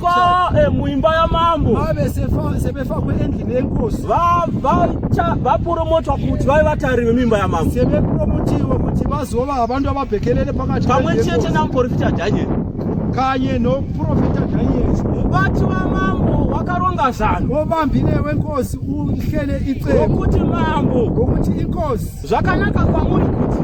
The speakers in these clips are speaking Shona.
Kwa eh, muimba ya mambo vave sefa sebefa kweendli nenkosi va va cha va promote kuti vai vatari vemimba ya mambo sebe promotiwa kuti vazova abantu ababhekelele pakati pamwe chete na muprofita Daniel kanye no profita Daniel vati va mambo wakaronga zano ovambile wenkosi uhlele icebo kuti mambo ngokuti inkosi Zvakanaka kwamuri kuti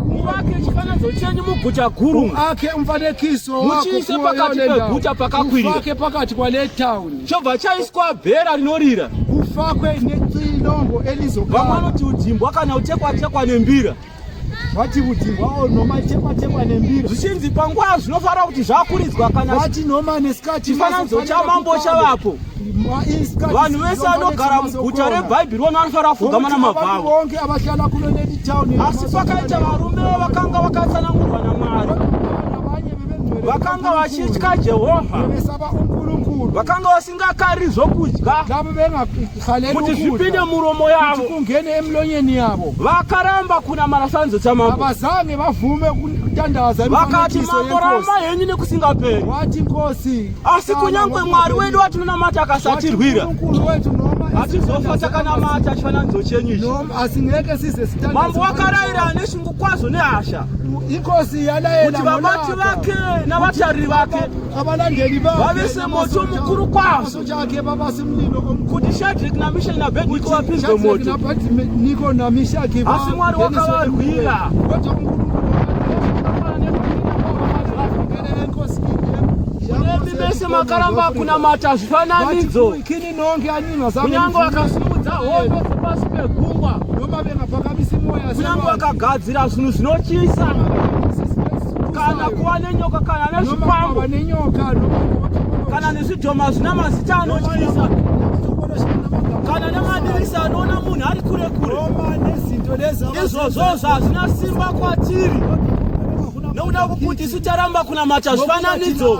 muvake chifananidzo chenyu muguta guru, muake mufanekiso muchiise pakati peguta pakakwirira, mufake pakati kwale town, chobva chaiswa bhera rinorira, kufakwe nexilongo elizogara. Vamwe vanoti udimbwa kana utekwa tekwa nembira vati kuti vao nhoma ichekwa chekwa nembira zvichinzi panguva zvinofanira kuti zvakuridzwa kana vati nhoma nesikati chifananidzo chamambo chavapo vanhu vese anogara muguta rebhaibheri vona anofanira kufuga mana mabvavo asi pakaita varume vakanga vakatsanangurwa namwari vakanga vachitya jehovha vakanga vasingakari zvokudya kuti zvipinde muromo yavo kungene emlonyeni yavo vakaramba kunamara sanzo chamambo havazange vavume kutandaza vakati mambo ramba henyu nekusingaperi wati nkosi asi kunyangwe mwari wedu watinonamata akasatirwira hatizofa takanamata chifananidzo chenyu icimambo wakaraira ane shungu kwazvo nehasha kuti vabati vake navatariri vake vave semoto mukuru kwazvo kuti shadrik namishaki nabhedniko vapinzwe moto asi mwari wakavarwira Imi mese makaramba kunamata zvifananidzo, kunyange wakasimudza hondo dzepasi pegungwa, kunyange wakagadzira zvinhu zvinotyisa, kana kuva nenyoka, kana nezvikwambo, kana nezvidhoma zvina mazita anotyisa, kana nemadirisa anoona munhu ari kure kure, izvozvozvo hazvina simba kwatiri. nokuda kwokuti isu taramba kunamata zvifananidzo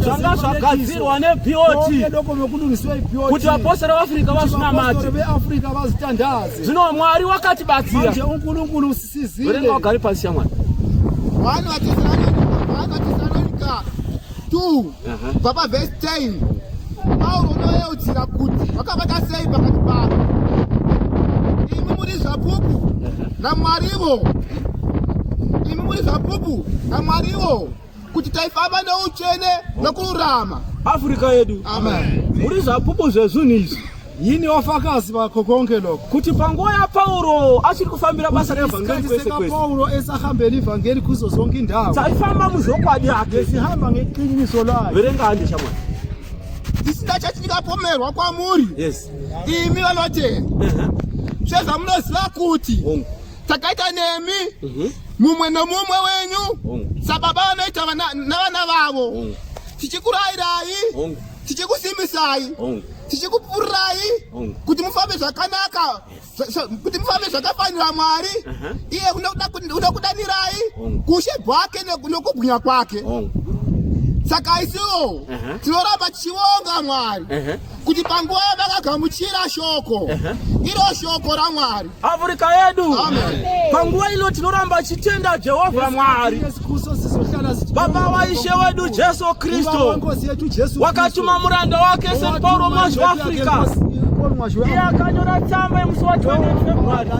zvanga zvagadzirwa nebot kuti vapostori veafrica vazvinamate zvino mwari wakatibatsira urenga wagari pasi shamwari 2 kubva pavhesi 10 pauro unoyeudzira kuti vakavata sei pakati pavo imi muri zvapupu namwarivo imi muri zvapupu namwarivo kuti taifamba neutsvene nokururama afrika yedu muri zvapupu zvezvinhu izvi Yini wafakazi vakho konke lokho? Kuthi panguva yaPawulo achiri kufambira basa revhangeri kwese kwese. Paulo esahambela ivhangeri kuzo zonke indawo. Saifamba muzvokwadi yakhe. Besihamba ngeqiniso lakhe. Verengani shamwana. Tisinda chathi ndikapomerwa kwamuri. Yes. Imi vanotenda. Uh-huh. Zveza munoziva kuti. Hongu. Takaita nemi. Uh-huh. Mumwe nomumwe wenyu. Hongu. Sababa vanoita navana vavo. Hongu. Tichikurayirai. Hongu. tichikusimisai tichikupurai kuti mufambe zvakanaka kuti mufambe zvakafanira mwari uh-huh. iye unokudanirai kushe bwake nokubwinya kwake saka isiwo uh-huh. tinoramba tichivonga mwari uh-huh. kuti panguva yavakagamuchira shoko iro shoko ramwari Afrika yedu panguva ino tinoramba chitenda Jehovha Mwari Baba waishe wedu Jesu Kristo wakatuma muranda wake St Paul Mwazhi weAfrica iye akanyora tsamba yemusi wa 20 February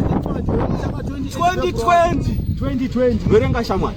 2020 verenga shamwari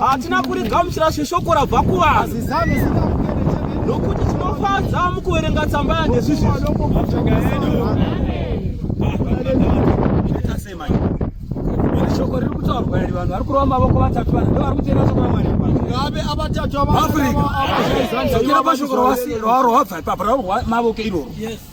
Hatina kurigamuchira shoko rabva kuvanhu nokuti tinofadza mukuverenga tsamba yandezvizvi. Shoko riri kutaurwa iri vanhu vari kurova mavoko vatatu vanhu ndovari kuteera shoko raMwari. Ngave avatatu ava. Afrika. Zvokera pashoko rawasi rwaro wabva ipapo rwaro mavoko iroro. Yes.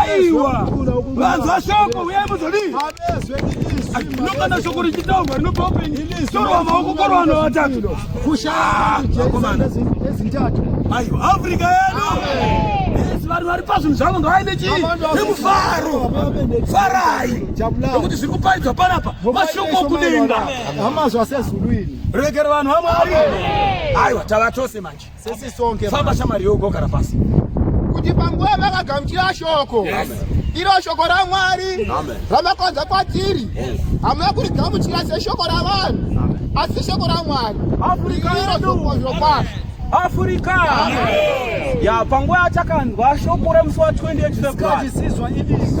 aiwa vanzwa shoko uyai muzodii nokana shoko richitaurwa rinobva upenyu torwa maoko korwa vanhu vatatu kushaaaezintatu aiwa afrika yedu vanhu vari pazvinhu zvavo ngavaine chii nemufaro farai nekuti zviri kuparidzwa panapa mashoko okudenga amazwa sezulu ini rekera vanhu vamwari aiwa tava tose manje Sisi sonke. Famba shamari yoko kana pasi. Kuti panguva vakagamuchira shoko. Yes. Iro shoko raMwari ramakonza kwatiri. Hamuna kurigamuchira seshoko ravanhu. Asi shoko raMwari. Afrika iro shoko zvokwazvo. Afrika. Amen. Ya panguva atakanzwa shoko remusi wa 28 February. Isikazisizwa ibisi.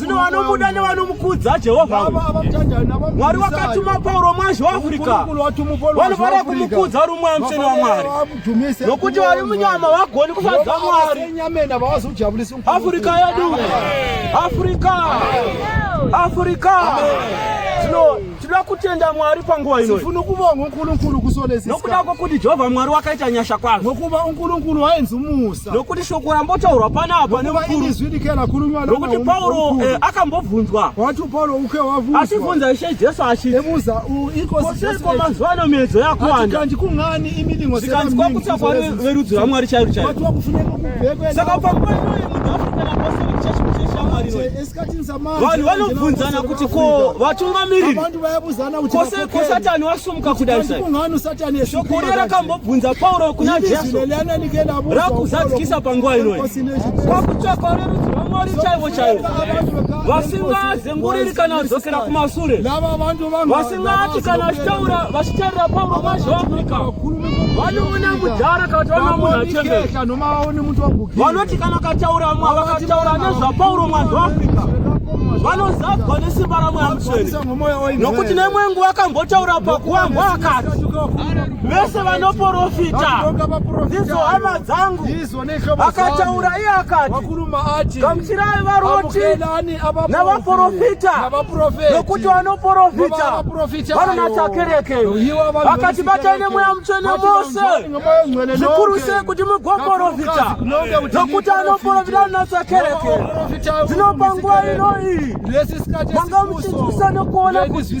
zvino vanomuda nevanomukudza jehovha mwari wakatuma pauro mwazi waafrica vanofanira kumukudza uri mweya mutsvene wamwari nokuti vari munyama vagoni kufadza mwari afrika yedu afrika afrika zvino tinoda kutenda mwari panguva ino tifuna kubonga unkulunkulu kusolesisa nokuda kwokuti jehovha mwari wakaita nyasha kwazvo ngokuba unkulunkulu waenzi umusa nokuti shoko rambotaurwa panapa nokuti pauro eh, akambobvunzwa achibvunza ishe jesu achitiiko mazuva ano miedzo yakuwandazikanzi kwakutsa kwa verudzi rwamwari chairo chairo saka panguva iyoyo munhu afunaapostolic church mucheshamwari vanhu vanobvunzana kuti ko vatungamiriri kose ko satani wasumuka kudai sai shoko riya rakambobvunza pauro kuna jesu rakuzadzikisa panguva inoyi kwakutsvakwa rerudzi rwamwari chaivo chaivo vasingazenguriri kana kudzokera kumasure Vati kana vachitaura vachitarira pauro mazhi waafrica vanoona mudhara kana kuti vanoona munhu achembera vanoti kana kataura vamwe vakataura nezvapauro mazhi waafrica vanozadzwa nesimba ramweya mutsvene nokuti nemwe nguva akambotaura pakuwambwa akati vese vanoporofita ndidzo hama dzangu Akataura iye akati, gamuchirai varoti navaprofita, nokuti vanoprofita vanonatsa kereke. Akati, batai nemweya mutsvene mose zvikuru sei kuti mugoprofita, nokuti anoprofita anonatsa kereke. Zvino panguva ino iyi manga muchinzwisisa nokuona kuti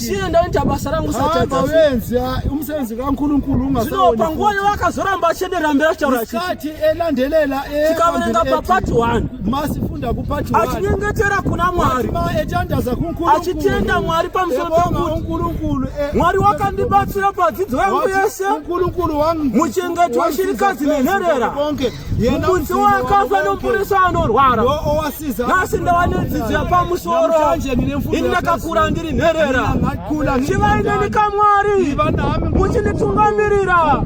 Tiye ndaita basa rangu satadza. Hamba wenzi umsebenzi kaNkulunkulu ungasaona. Zvino panguva yavakazoramba achedera mbera chitaura chiti. Kati elandelela e. Tikaverenga pa part 1. Masifunda ku part 1. Achinyengetera kuna Mwari. Etandaza kuNkulunkulu. Achitenda Mwari pamusoro peNkulunkulu. E, Mwari wakandibatsira padzidzo yangu yese. Nkulunkulu wangu. Muchengeti weshirikadzi nenherera. Konke. mukudzi wakafa nomuporesa anorwara nhasi ndava nedzidzo yapamusoro ini ndakakura ndiri nherera chivai neni kamwari muchinditungamirira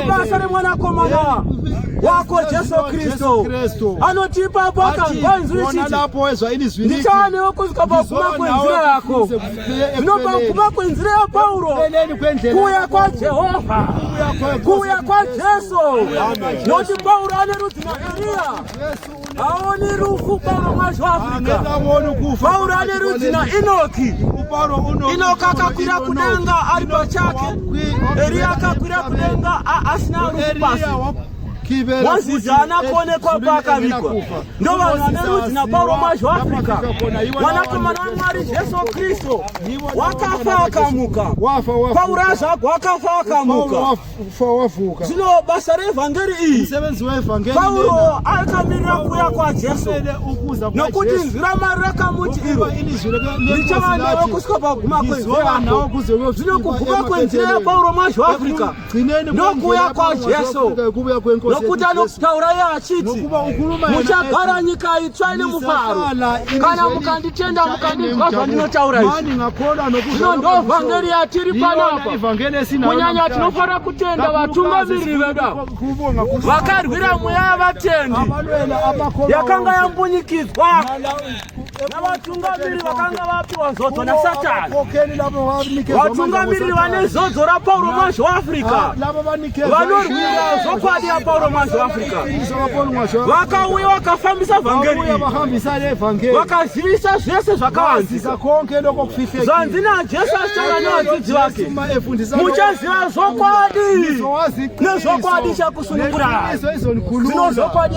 mubasa remwanakomana wako jesu kristu anoti ipapo akanzwa inzwi richiti ndichaanewo kuzika pakuma kwenzira yako Zvinobva kubva kwenzira yaPauro kuuya kwaJehovha, kuuya kwaJesu. Nokuti Pauro ane rudzi naEriya, haoni rufu Pauro mwacho Afrika. Pauro ane rudzi naEnoki, Enoki akakwira kudenga ari pachake, Eriya akakwira kudenga asina rufu pasi. Mozisi haana kuonekwa paakavigwa. ndovanhu vane rudzi napauro mazho africa wanakomana wamwari jesu kristu wakafa akamuka paura zvako wakafa akamuka zvino basa reevhangeri iyi pauro akamirira kuya kwajesu nokuti izwi ramari rakamuti iro richava newe kusvika paguma kwenzira yako zvino kuguma kwenzira yapauro mazho africa nokuuya kwajesu nokuti anotaura iye achiti muchagara nyika itsva ine mufaro kana mukanditenda mukandinzwa zvandinotaura izvino ndo vhangeri yatiri panapa kunyanya tinofanira kutenda vatungamiriri vedu ava vakarwira mweya yavatendi yakanga yambunyikidzwa navatungamiri vakanga vapiwa nzodzo nasatani vatungamiriri vane zodzo rapauro mwazvo waafrica vanorwira zvokwadi yapauro mwazvo waafrica vakauya vakafambisa vhangeri vakazivisa zvese zvakawanzika zvanzi najesu achitanga nevadzidzi vake muchaziva zvokwadi nezvokwadi chakusunungurai zino zvokwadi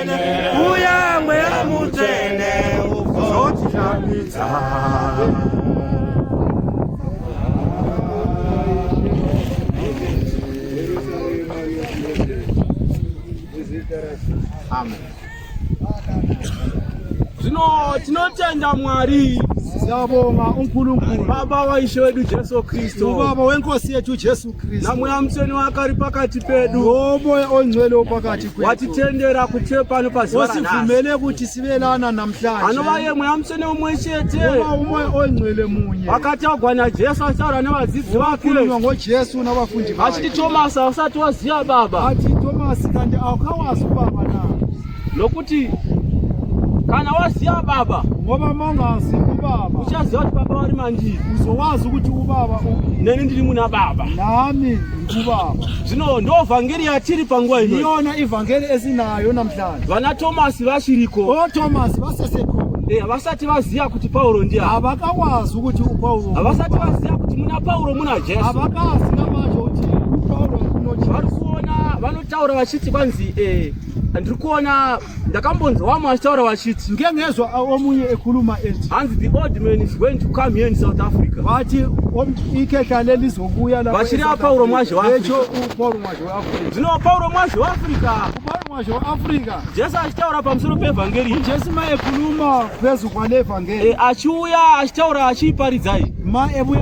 uya mweya mutsvene uzotinamidza Amen. Zvino tinotenda Mwari siyabonga uNkulunkulu baba waishe wedu Jesu Kristu baba wenkosi yethu Jesu namweya mutsvene wake ari pakati pedu nomoya onzwene wopakati kwedu watitendera kuteyo pano pazuva ranhasi osivumele kuti sivelana namhlanje anova ye mweya mutsvene umwe chete nova umoya onzwele munye akatagwa najesu achitaura nevadzidzi vake unokhulunywa ngojesu navafundi vake achiti tomasi ausati waziva baba ati tomasi kanti awukawazi ubaba na Lokuti kana waziva baba ngoba mangazi kubaba uchaziva kuti baba vari mandiri uzowazi kuti ubaba upi neni ndiri muna baba nami ndikubaba zvino ndo vhangeri yatiri panguva ino iyona ivhangeri esinayo namhlanje vana tomasi vachiriko o oh, tomasi vaseseko eh, havasati vaziva kuti pauro ndiya havakawazi kuti upauro havasati vaziva kuti muna pauro muna jesu havakazi namacho kuti upauro kunovari kuona vanotaura vachiti kwanzi eh, ndiri kuona ndakambonzwa wamwe achitaura vachiti ngemezwa omunye ekhuluma ethi hanzi the old man is going to come here in south africa vathi ikhehla lelizobuya vachiri apauro mwazhe wapauro mwazhe weafrica zvino pauro mwazhe weafrica upauro mwazhe weafrica jesu achitaura pamusoro peevhangeri jesu ma ekhuluma phezu kwale vhangeri eh, achiuya achitaura achiiparidzai ma ebuya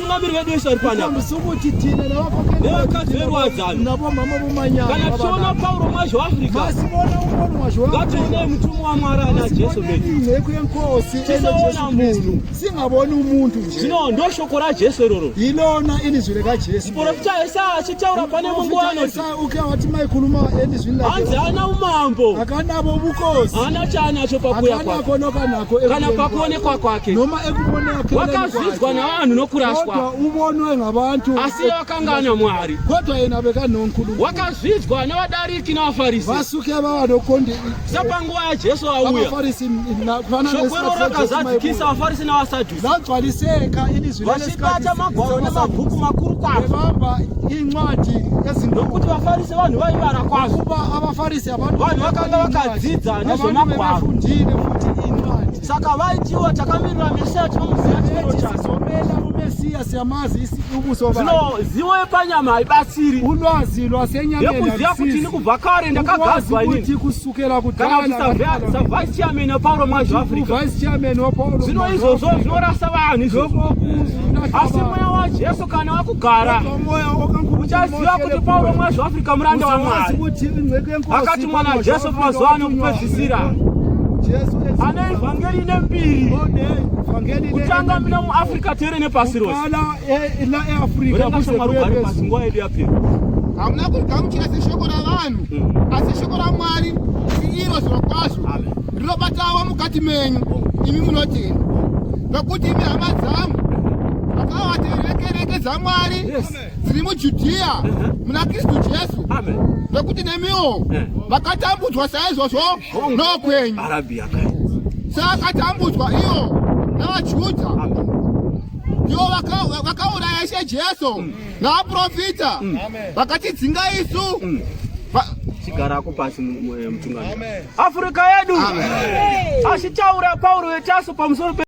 Tungamiri vedu vese vari pana musukuti tina nevakadzi verwadzano navo mama vomanyama kana tichiona Pauro mwazho waAfrica masibona umoni mwazho ngatione mutumwa waMwari ana Jesu vedu nheku yenkosi tisaona munhu singaboni umuntu nje zvino ndoshoko raJesu iroro ilona ilizwi rekaJesu muprofita Yesaya achitaura pane munguva anoti Uke wati mai kuluma endi zvinhu hanzi ana umambo akanavo vukosi ana chaanacho pakuya kwako nokanako kana pakuonekwa kwake noma ekuoneka wakazvidzwa navanhu nokuraswa uvonwe ngavantu asi vakanga ana mwari kodwa yena vekanhonkulu wakazvidzwa navadariki navafarisi vasuke vavanokondi sepanguva yajesu auya shoko iroro rakazadzikisa vafarisi navasadhu Zvagcwaliseka ini zvine vachibata magwaro nemabhuku makuru kwazvo vamba incwadi ezindokuti vafarise vanhu vaivara kwazvo kuba avafarise abantu vanhu vakanga vakadzidza nezvemagwaro fundile futi incwadi saka vaitiwa takamirira mesiya tinomuziva chiro chacho mesiya siyamazi isi ubuso bani zvino ziwo yepanyama haibatsiri ulwazi lwasenyama yekuziva kuti ini kubva kare ndakagadzwa ini Vice chairman waPauro Mwazhu Africa. Vice chairman waPauro. Zvino izvozvo zvinorasa vanhu izvozvo. Asi mweya waJesu kana wakugara uchaziva kuti Pauro Mwazhu Africa muranda waMwari. Akati mwana Jesu mazuva ano kupedzisira. Ane evhangeri ine mbiri. Kutanga mina muAfrica tere nepasi rose. Urenga shamwari ugare pasi nguva yedu yapera. Hamuna kugamuchira seshoko ravanhu. mm. asi shoko ramwari siiro zviro kwazvo rinobatawo mukati menyu imi munotenda nokuti imi hama dzangu akawaterekereke dzamwari dziri mujudhiya uh-huh. muna kristu jesu nokuti nemiwo eh. vakatambudzwa saizvozvo oh. nokwenyu seakatambudzwa iwo navajudha ndiwo vakauraya ishe jesu mm. naaprofita mm. vakatidzinga isu mm. chigarako pasi eh, mutungamiri afrika yedu achitaura pauro yetaso pamusoro